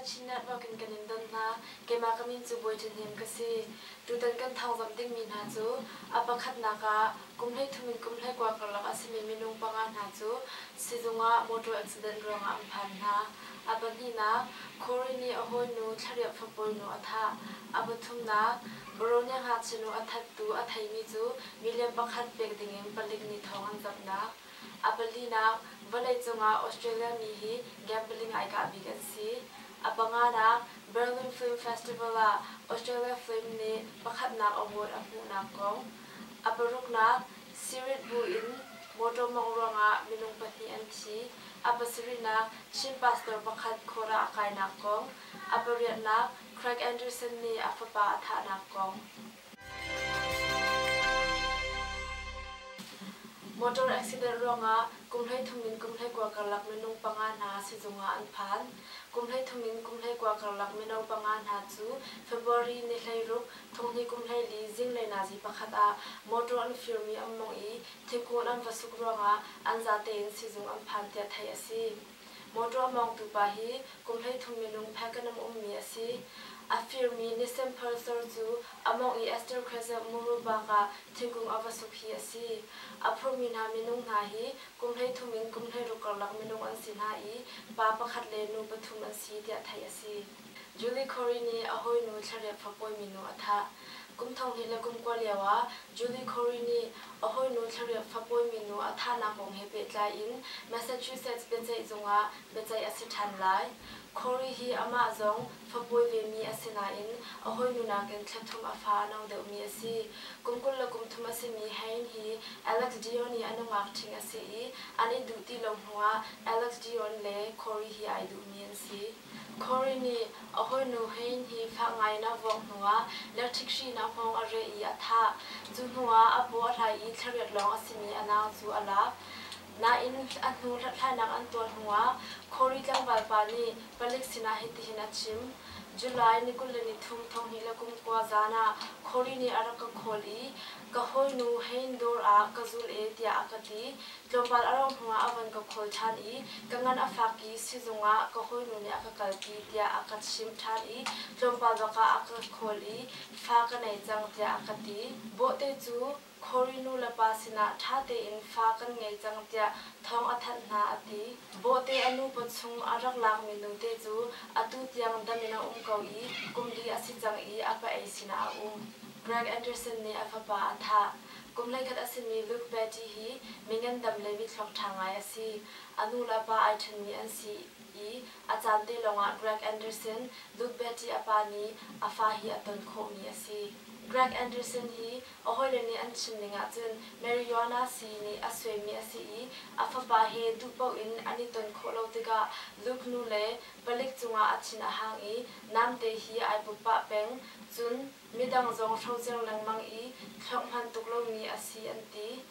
Chinah rokin kan in don hna keimah ka min cu Bawi Ṭin Hnem ka si tutan kan thawngzamh dingmi hna cu a pakhatnak ah kum hleithum in kum hleikua karlak a simi minung panga hna cu sizung ah motor accident ruangah an phan hna A pahnihnak, Kori nih a hawinu thlareuh fapawinu a thah. A pathumnak, Baronia ngakchinu a thattu a theimi cu million pakhat pek dingin palik nih thawng an kamhnak. A palinak, vawleicung ah Australia mi hi gambling ai kah bik an si. A panganak, Berlin Film Festival ah Australia film nih pakhatnak award a hmuhnak kong. A paruknak, Spirit buin mawṭaw mawngh ruangah minung pahnih an thi, a pasarihnak Chin pastor pakhat khawrah a kainak kong, a pariatnak Craig Anderson nih a fapa a thahnak kong. Motor accident ruangah kum hleithum in kum hleikua karlak minung panga hna sizung ah an phan. Kum hleithum in kum hleikua karlak mino panga hna cu February ni hleiruk Thonghnui kumhleili zinglei nazi pakhat ah motor an firmi an mawngh i thingkung an va suk ruangah an zate in sizung an phan tiah theih a si. Motor a mawngtu pa hi kumhleithum minung phakan um ummi a si. A firmi Nisemphalsor cu a mawngh i Esther Khazelh muru bakah thingkung a va suk hi a si. A phurmi hna minung hna hi kumhleithum in kumhleiruk karlak minung an si hna i pa pakhat le nu pathum an si tiah theih a si. Julie Corey nih a hawinu thlarep fapawi minu a thah. Kum thonghnih le kum kua lio ah Julie Corey nih a hawinu thlarep fapawi minu a thahnak kong he pehtlai in Massachusetts biaceihzung ah biaceih a si ṭhan lai. Corey hi amah zong fapawi vemi a si nain a hawinu nakin thla thum a fa a no deuhmi a si. Kum kul le kum thum a simi Hein hi Alex Dion i a nungak ṭhing a si i an i duh ti lo hnuah Alex Dion le Corey hi ai duhmi an si. Corey nih a hawinu Hane hi fak ngaiin a vawk hnuah lerthikhrihnak hmawng a reh i a thah. Cu hnuah a paw a hlai i thlarep lawng a simi a nau cu a lak. Nain a hnu hlathlainak an tuah hnuah Corey tlangvalpa nih palik sinah hitihin a chim, July ni kul le nithum thonghnih le kum kua zan ah Corey nih a rak ka call i ka hawinu Hane dawr ah ka zul e tiah a ka ti. Tlawmpal a rauh hnuah a van ka khawl ṭhan i ka ngan a fak i sizung ah ka hawinu nih a ka kalpi tiah a ka chimh ṭhan i tlawmpal bak ah a ka khawl i fa ka nei cang tiah a ka ti. Bawhte cu Cory nulepa sinah ṭha tein fa kan ngei cang tiah thawng a thanh hna a ti. Bawhte a nupa chung a rak lakmi nute cu atu tiang dam in a um ko i kum li a si cang i a pa ei sinah a um. Greg Anderson nih a fapa a thah. Kum hleikhat a simi Luke Beatty hi mi ngandam le mitthluak ṭha ngai a si. A nu le a pa ai ṭhenmi an si i a caan te lawngah Greg Anderson, Luke Beatty a pa nih a fa hi a ton khawhmi a si. Greg Anderson hi a hawile nih an chimning ahcun Marijuana sii nih a suaimi a si i a fapa he duh paoh in an i ton khawh lo tikah Luke nu le palik cungah a thin a hang i Namte hi ai bup pah peng, cun. Midang zong hrocer lengmang i thlauh hman tuk lomi a si an ti.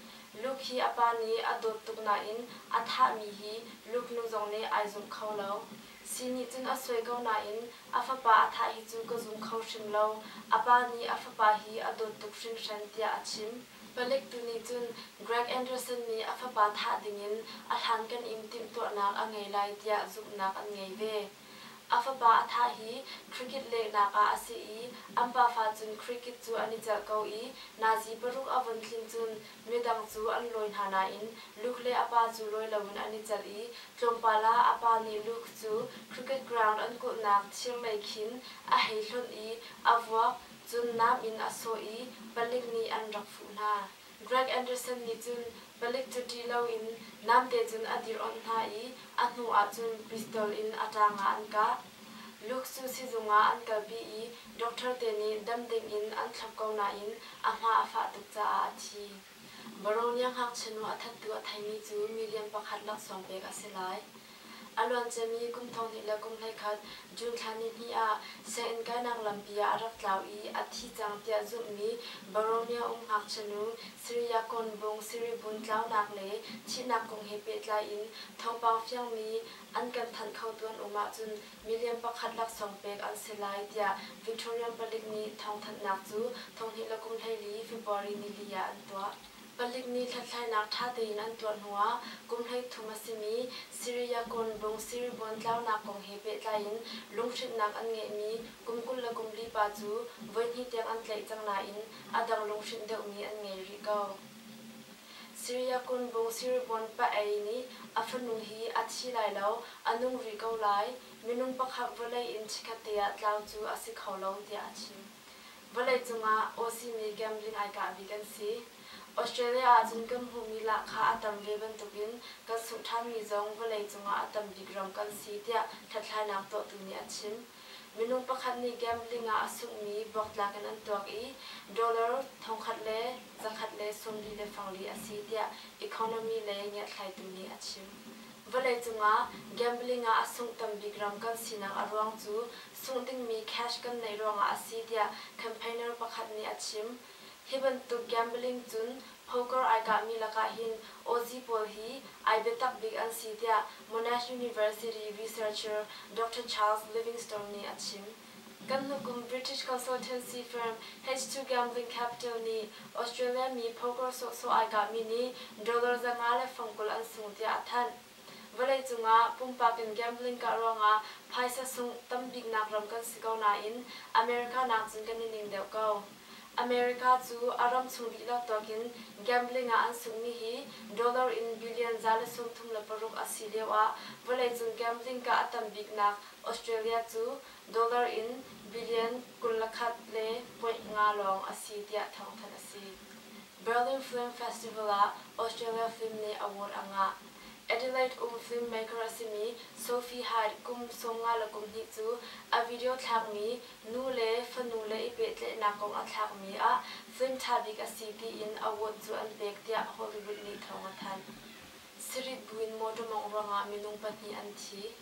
Luke hi a pa nih a dawt tuk nain a thahmi hi Luke nu zong nih ai zumh kho lo. Si nih cun a suai ko nain a fapa a thah hi cu ka zum kho hrim lo. A pa nih a fapa hi a dawt tuk hringhran tiah a chim. Palik tu nih cun Greg Anderson nih a fapa thah dingin a hlankan in timhtuahnak a ngei lai tiah zumhnak an ngei ve. A fapa a thah hi cricket lehnak ah a si i an pafa cun cricket cu an i celh ko i Nazi paruk a von tling cun midang cu an lawi hna nain Luke le a pa cu lawi loin an i celh i tlawmpal ah a pa nih Luke cu cricket ground an kulhnak thirlei khin a hei hlonh i a vuak cun nam in a sawh i palik nih an rak fuh hna. Greg Anderson nih cun palik cu ṭih loin namte cun a dir-awnh hna i a hnu ahcun pistol in a ṭaangah an kah. Luke cu sizung ah an kalpi i doctor te nih dam dingin an thlop ko nain a hma a fah tuk caah a thi. Baronia ngakchia nu a thattu a theimi cu million pakhat laksawng pek a si lai. A luanciami kum thonghnih le kum hleikhat June thla nihnih ah sianginn kainak lampi ah a rak tlau i a thi cang tiah zumhmi Boromia um ngakchianu Siriakon Bung Siribun tlaunak le thihnak kong he pehtlai in thawngpang fiangmi an kan thanh khotu an um ahcun million pakhat laksawng pek an si lai tiah Victorian palik nih thawngthanhnak cu thonghnih le kum hleili February nili ah an tuah. Palik nih hlathlainak ṭha tein an tuah hnuah kum hleithum a simi Syriacon bung Siribuan tlaunak kong he pehtlai in lunghrinhnak an ngeihmi kum kul le kum li pa cu voihnih tiang an tlaih cang nain a dang lunghrinh deuhmi an ngei rih ko. Syriacon bung Siribuan pa-ei nih a fanu hi a thi lai lo, a nung rih ko lai, minung pakhat vawlei in chikkhatte ah tlau cu a si kho lo tiah a chim. Vawlei cungah awsimi gambling ai kah bik an si. Australia ahcun kan hmuhmi lah kha a tam ve bantukin kan sungh ṭhanmi zong vawlei cungah a tam bik ram kan si tiah hlathlainak tuahtu nih a chim. Minung pakhat nih gambling ah a sunghmi bawktlak in an tuak i dollar thongkhat le zakhat le sawmli le fangli a si tiah economy lei ngiatthlaitu nih a chim. Vawlei cungah gambling ah a sungh tam bik ram kan sinak a ruang cu cuh dingmi cash kan neih ruangah a si tiah campaigner pakhat nih a chim. Hi bantuk gambling cun poker ai kahmi lakah hin awzi pawl hi ai biatak bik an si tiah Monash University researcher Doctor Charles Livingstone nih a chim. Kan hnukum British consultancy firm H2 Gambling Capital nih Australia mi poker sawhsawh ai kahmi nih dollar za nga le fang kul an sung tiah a thanh. Vawleicung ah pumpak in gambling kah ruangah phaisa sungh tambiknak ram kan si ko nain America nakcun kan i ning deuh ko. America cu a ram chung dihlak tuak in gambling ah an sungmi hi dollar in billion za le sawmthum le paruk a si lio ah vawleicung gambling kah a tambiknak Australia cu dollar in billion kul le khat le point nga lawng a si tiah thawngthanh a si. Berlin Film Festival ah Australia film nih award a ngah. Adelaide um filmmaker a simi Sophie Hyde kum sawmnga le kum hnih cu a video thlakmi nu le fanu le i pehtlaihnak kong a thlakmi ah film ṭha bik a si tiin award cu an pek tiah Hollywood nih thawng a thanh. Sarit buin motor mawngh ruangah minung pahnih an thi.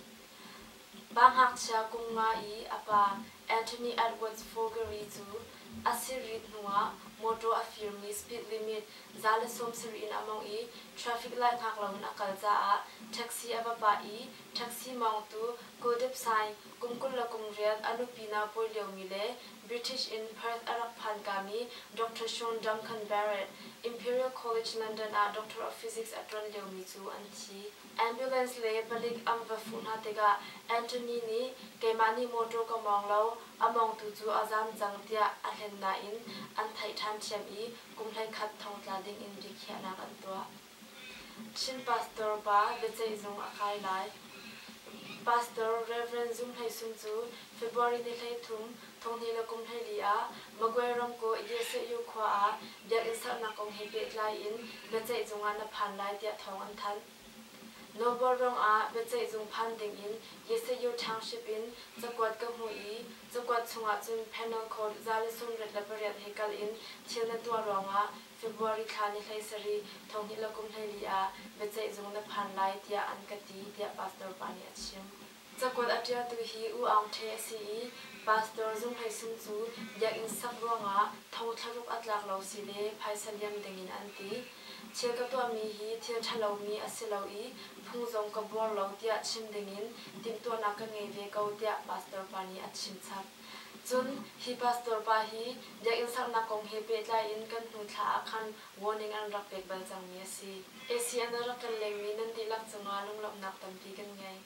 Va ngakchia kum nga i a pa Anthony Edwards Fogery cu a sirrit hnuah mawṭaw a firmi speed limit za le sawmsarih in a mawngh i traffic lai hngak loin a kal caah taxi a va pah i taxi mawngtu Godip Saing kum kul le kum riat a nupi naupawi liomi le British in Perth a rak phankami Doctor Sean Duncan Barrett Imperial College London ah Doctor of Physics a ṭuan liomi cu an thi. Ambulance le palik an va fuh hna tikah Anthony nih keimah nih motor ka mawng lo, a mawngtu cu a zaam cang tiah a hlen nain an theih ṭhan ṭhiam i kum hleikhat thong tla ding in biakhiahnak an tuah. Chin pastor pa biaceih zung a kai lai. Pastor Reverend Zung Hlei Sung cu February ni hleithum Thawngnih le kum hleili ah Magway ramkaw Idesehyu khua ah biakinn sernak kong he pehtlai in biaceih cung ah na phan lai tiah thawng an thanh. Nawlbual ruang ah biaceih cung phan ding in Yesehyu Township in cakuat ka hmuh i cakuat chung ahcun Penal Code za le sungrit le pariat he kal in thil na tuah ruang ah February thla ni hlei sarih thawngnih le kum hleili ah biaceih zung na phan lai tiah an ka ti tiah pastor pa nih a chim. Cakuat a ṭialtu hi U Aung Ṭhe a si i Pastor Zung Hlei Sung cu biakinn sak ruangah thong thlaruk a tlak lo si le phaisa liam dingin an ti. Thil ka tuahmi hi thil ṭhalomi a si lo i phung zong ka buar lo tiah chim dingin timhtuahnak ka ngei ve ko tiah pastor pa nih a chim chap. Cun hi pastor pa hi biakinn saknak kong he pehtlai in kan hnu thla ah khan warning an rak pek bal cangmi a si. ACN ah rak kan lengmi nan dihlak cungah lunglawmhnak tampi kan ngei.